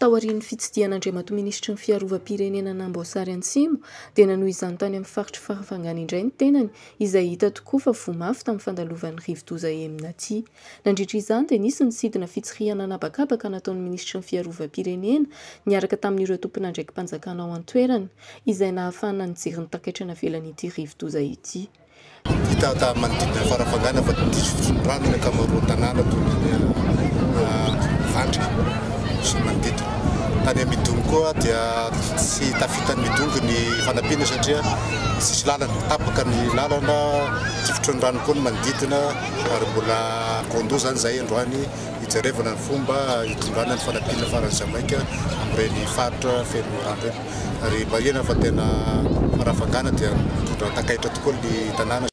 Taorian'ny fitsidihan'Andriamatoa Minisitry ny Fiarovam-pirenena an'i Amboasary Antsimo dia nanohy izany tany amin'ny faritry Farafangana indray ny tenany izay hita tokoa fa voa mafy tamin'ny fandalovan'ny rivodoza Emina tia. Nandritra izany dia nisy ny sidina fitsirihana an'habakabaka nataon'ny minisitry ny Fiarovam-pirenena niaraka tamin'ireo tompon'andraiki-panjakana ao an-toerana, izay nahafahana nijery ny takaitra navelan'ity rivodoza ity. Hita tamin'ny manodidina ny farafangana fa diso fisondrotana ny ankamaroan'ny tanàna toy ny eny Ambovandrika sy ny manodidina. Tany amin'ny Midongy koa dia tsy tafitan'ny Midongy ny fanampiana satria tsisy lalana, tapaka ny lalana, tsy fitroin'ny rano koa ny manodidina. ary mbola Kondo izany izahay androany hijerevana ny fomba hitondrana ny fanampiana faran'ny Jamaika amin'ireny faritra feno rano ireny ary marihina fa tena farafangana dia mitondra takaitra tokoa ny tanàna.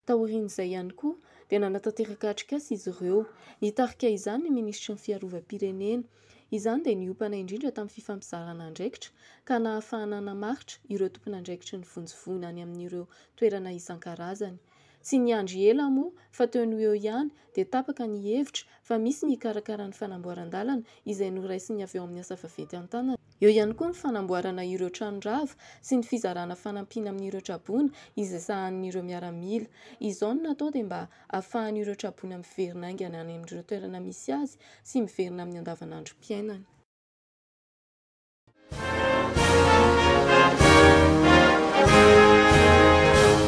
Taorian'izay ihany koa dia nanatanteraka atrikasa izy ireo. Nitarika izany ny minisitry ny Fiarovam-pirenena. Izany dia niompana indrindra tamin'ny fifampizarana andraikitra ka nahafahana namaritra ireo tompon'andraikitry ny vonjivoina any amin'ireo toerana isan-karazany. Tsy niandry ela moa fa teo noho eo ihany dia tapaka ny hevitra fa misy ny hikarakara ny fanamboaran-dalana izay noraisin'ny avy ao amin'ny asa vaventy an-tanana. Eo ihany koa ny fanamboarana ireo trano rava sy ny fizarana fanampiana amin'ireo traboina izay sahanin'ireo miaramila. Izao no natao dia mba hahafahan'ireo traboina miverina haingana any amin'ireo toerana misy azy sy miverina amin'ny andavanandrom-piainany.